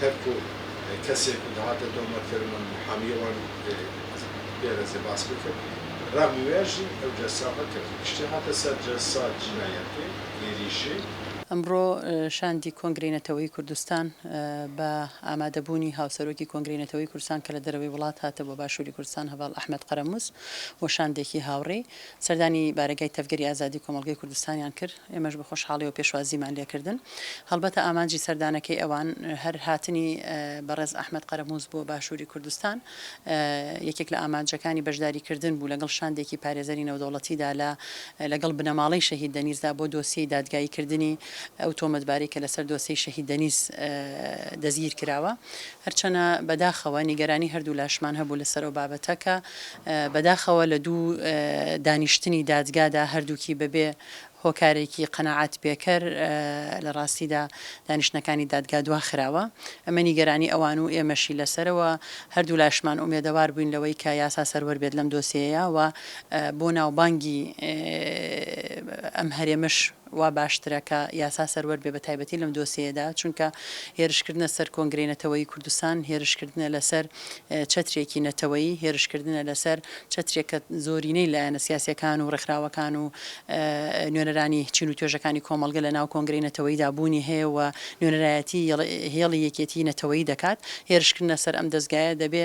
تەرک و کەسێک و دەهاتە دۆمە کەرم و محامی وان بێرەزێ باس بکرد را موێژی ئەو جەلسا بە کەرد گشتی هاتە سەر جەلسا جینایەتی ئیریشی. ئەمڕۆ شاندی کۆنگرەی نەتەوەیی کوردستان بە ئامادە بوونی هاوسەرۆکی کۆنگرەی نەتەوەیی کوردستان کە لە دەرەوەی وڵات هاتە بۆ باشووری کوردستان هەڤاڵ ئەحمەد قەرەمووس و شاندێکی هاوڕی سەردانی بارەگای تەڤگەری ئازادی کۆمەڵگەی کوردستانیان کرد، ئێمەش بە خۆشحاڵیەوە پێشوازیمان لێکردن. هەڵبەتە ئامانجی سەردانەکەی ئەوان هەر هاتنی بەڕێز ئەحمەد قەرەموز بۆ باشوری کوردستان یەکێک لە ئامانجەکانی بەشداری کردن بوو لەگەڵ شاندێکی پارێزەری نێودەوڵەتیدا لە لەگەڵ بنەماڵەی شەهید دەنیزدا بۆ دۆسیەی دادگایی کردنی ئەو تۆمەتبارەی کە لەسەر دۆسیەی شەهید دەنیز دەستگیرکراوە. هەرچەنە بەداخەوە نیگەرانی هەردوولاشمان هەبوو لەسەر ئەو بابەتە کە بەداخەوە لە دوو دانیشتنی دادگادا هەردووکی بەبێ هۆکارێکی قەناعەت پێکەر لە ڕاستیدا دانیشتنەکانی دادگا دواخراوە. ئەمە نیگەرانی ئەوان و ئێمەشی لەسەرە و هەردوولاشمان ئومێدەوار بووین لەوەی کە یاسا سەروەر بێت لەم دۆسیەیە و بۆ ناوبانگی ئەم هەرێمەش وا باشترە کە یاسا سەروەر بێ بەتایبەتی لەم دۆسێیەدا، چونکە هێرشکردنە سەر کۆنگرەی نەتەوەیی کوردستان، هێرشکردنە لەسەر چەترێکی نەتەوەیی، هێرشکردنە لەسەر چەترێک کە زۆرینەی لایەنە سیاسییەکان و ڕێکخراوەکان و نوێنەرانی چین و توێژەکانی کۆمەڵگە لەناو کۆنگرەی نەتەوەییدا بوونی هەیە و نوێنەرایەتی هێڵی یەکێتیی نەتەوەیی دەکات، هێرشکردنە سەر ئەم دەزگایە دەبێ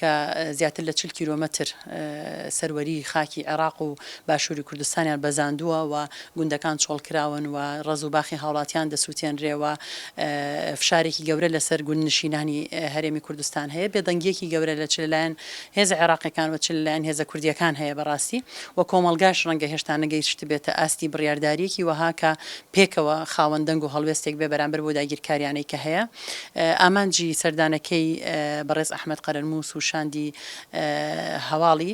کە زیاتر لە چل کیلۆمەتر سەروەری خاکی عێراق و باشووری کوردستانیان بەزاندووە و گوندەکان چۆڵکراون و ڕەز و باخی هاوڵاتیان دەسووتێنرێ و فشارێکی گەورە لەسەر گوندنشینانی هەرێمی کوردستان هەیە. بێدەنگییەکی گەورە لە چ لەلایەن هێزە عێراقیەکان و چ لەلایەن هێزە کوردییەکان هەیە بەڕاستی و کۆمەڵگاش ڕەنگە هێشتا نەگەیشتبێتە ئاستی بڕیاردارییەکی وەها کە پێکەوە خاوەن دەنگ و هەڵوێستێک بێ بەرامبەر بەو داگیرکارییانەی کە هەیە. ئامانجی سەردانەکەی بەڕێز ئەحمەد قەرەرمووس و شاندی هەواڵی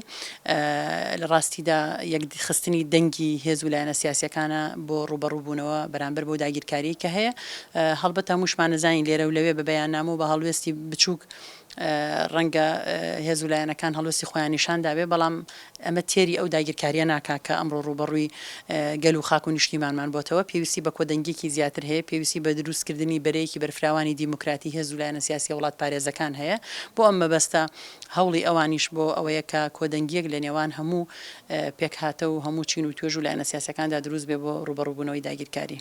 لە ڕاستیدا یەکدیخستنی دەنگی هێز و لایەنە سیاسییەکانە بۆ ڕووبەڕووبوونەوە بەرامبەر بەو داگیرکارییەی کە هەیە. هەڵبەت هەمووشمان ئەزانین لێرە و لەوێ بە بەیاننامە و بە هەڵوێستی بچووک، ڕەنگە هێز و لایەنەکان هەڵوێستی خۆیان نیشان دابێ، بەڵام ئەمە تێری ئەو داگیرکارییە ناکا کە ئەمڕۆ ڕووبەڕووی گەل و خاک و نیشتیمانمان بۆتەوە. پێویستی بە کۆدەنگییەکی زیاتر هەیە، پێویستی بە درووستکردنی بەرەیەکی بەرفراوانی دیموکراتی هێز و لایەنە سیاسییە وڵاتپارێزەکان هەیە. بۆ ئەم مەبەستە هەوڵی ئەوانیش بۆ ئەوەیە کە کۆدەنگییەک لە نێوان هەموو پێکهاتە و هەموو چین و توێژ و لایەنە سیاسییەکاندا درووست بێ بۆ ڕووبەڕووبوونەوەی داگیرکاری.